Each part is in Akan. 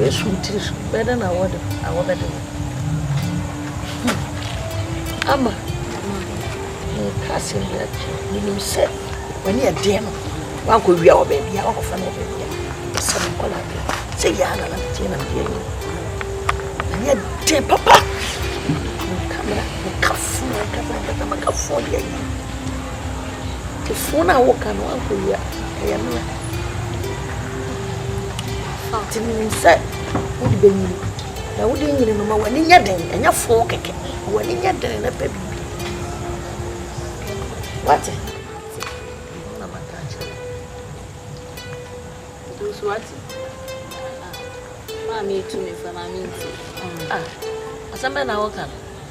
Yesu tiri so, bɛdɛ na wɔde a wɔbɛde wɔn hmm. ama ma meka asɛm bi akyerɛ menim sɛ w'ani ɛdeɛ no wankɔwia wɔ baabi a wakɔfa no wɔ baabi a sɛ mekɔ no adeɛ sɛ yɛa na nateɛ na medeɛ no ani ɛdeɛ papa meka mena mekafoɔ ankasa ankasa makafoɔ yɛ yi Phone a woka no ankɔwia ɛyɛ me a nti menim sɛ wode bɛnyini na wode nyini no ma w'ani nyɛ den ɛnyɛ foo kɛkɛ ma w'ani nyɛ den na pɛ biribi wate na maka akyerɛ nso wate maa metu me fa maa menti asɛm bɛ na woka no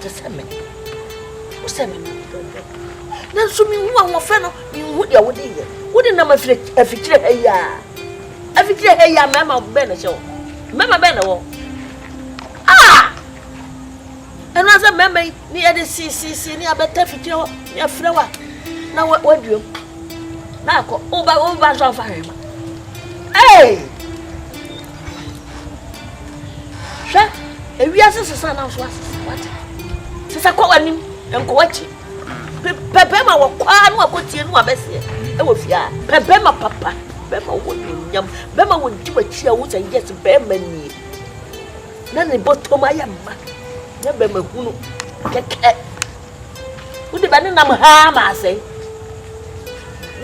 Te sɛ me. Wo sɛ me dɔdɔ. Nanso menhu ahoɔfɛ no, menhu deɛ wode yɛ. Wode nam afikyire ha yi a. Afikyire ha yi a mmarima bɛn na ɛhyɛ hɔ? Mmarima bɛn na ɛwɔ hɔ? Ah! Ɛno ara sɛ mmarima yi ne yɛde siisiesie ne abɛta afikyire hɔ ne afrɛ wa na waduam na akɔ. Woba woba nso amfa hwee ma. Hey! hwɛ ewiase sesa na nso asesa wate sesa kɔ w'anim nkɔ w'akyi pɛ bɛrima wɔ kwaa no akɔtie no abɛseɛ ɛwɔ fie a pɛ bɛrima papa bɛrima wɔ nonyam bɛrima wɔ di w'akyi a wo sɛ yes bɛrima nie na ne bɔtɔm ayɛ mma na bɛrima hunu kɛkɛ wode bɛne nam haa ma asɛe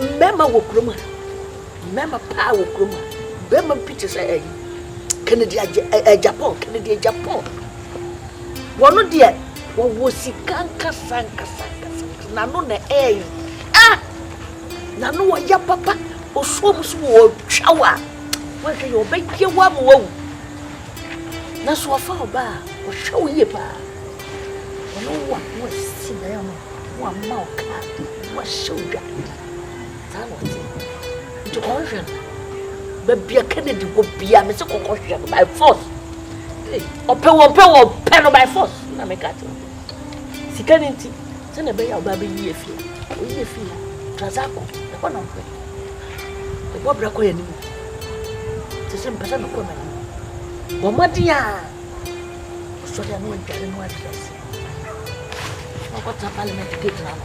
mmarima wɔ kurom ha Mmarima paa wɔ kurom ha. Barima bi te sɛ ɛyi Kennedy agye ɛ Japan Kennedy Japan. Wɔn deɛ wɔwɔ sika nkasa nkasa nkasa nkasa n'ano na ɛɛyi. Ah! N'ano ɔya papa osuo mu so wɔ ɔtwa wɔ a wɔhwɛ yɛ ɔbɛyɛ wɔ ama wawu. Nanso ɔfa ɔbaa ɔhwɛ wo yie paa. Wɔn wɔ a wɔasi dan ama wɔama wo kaa wɔahyɛ wo dwa. Saa na ɔte. Nti kɔhwehwɛ no. Baabi a Kennedy wɔ bia me se kɔkɔhwehwɛ no by force. Ɔpɛ wɔ mpɛ wɔ pɛ no by force. Na me ka te wo. Sika no nti sɛ na ɛbɛyɛ a ɔbaa bɛyi afie. Ɔyi afie a Trazako ɛhɔ na ɔhwɛ. Ɛbɔ bra kɔ yɛ anim. Te sɛ mpɛ sɛ mekɔ m'anim. Bɔ mmɔden a ɔsɔre a na wadware no adrɛse. Ɔkɔtena parliament gate no ano.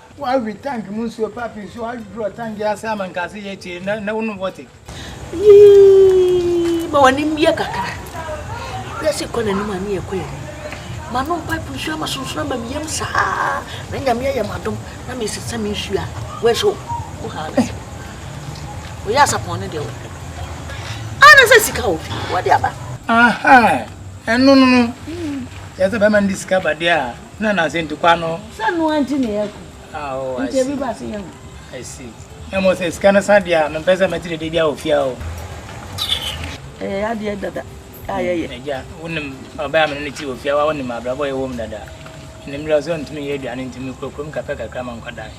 Woawe tank mu nsuo papi nso aduro tank yi ase ama nkase yɛ kyee na na wonom wɔte. Yii ma wani mmie kakra. Wiase kɔ n'anim a ne yɛ kɔ yɛ anim. Manom pipe nsuo ama sunsoro ama me yam saa na nyame ayɛ m'adom na mesesa me nsuo a wɛso wo ha na sɛ woyɛ asapɔn ne deɛ wo ana sɛ sika wɔ fi wɔde aba. Aha ɛno no no yɛ sɛ bɛma ne de sika ba deɛ a. Na na sɛ ntukwa no. Sɛ noa nti na yɛ kɔ. Oh, I see. Nti ebi ba se yɛ ho. I see. Na mo sɛ sika no sa deɛ a, mempɛ sɛ mɛte dede bi a wɔ fie a o. Ɛyɛ adeɛ dada a hmm, yɛyɛ. Agya, wonim ɔbɛn a mene ne ti wɔ fie a, wonim abrabɔ yɛwɔ mu dada. Menim mmerɛ sɛ ɔntumi yɛ aduane nti mekɔ kurom kakra kakra ma nkwadaa.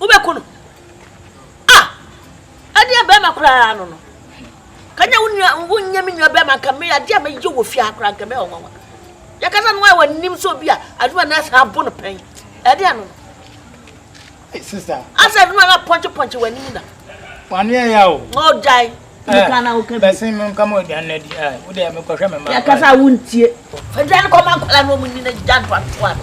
Wobɛku no. Ah! Ɛdeɛ bɛrima koraa no no. Kanya wo nua, wonyɛ me nua bɛrima nka me adeɛ a mɛyɛ wɔ fie ha koraa nka mɛyɛ ɔnwanwa. Yɛkasa no a wɔnim sɛ obi a adwuma na ɛsan abo no pɛn. Ɛdeɛ no no. Hey, sister. Asɛ adwuma na pɔnkye pɔnkye wɔ anim na. Wani ɛyɛ o. Ɔgyae. Nka na wo ka bi. Bɛsen me nka mo aduane na di. Wo deɛ mekɔhwɛ me mma. Yɛkasa a wontie. Aduane kɔma nkɔla no ɔmo nyi na gya ntoatoa no.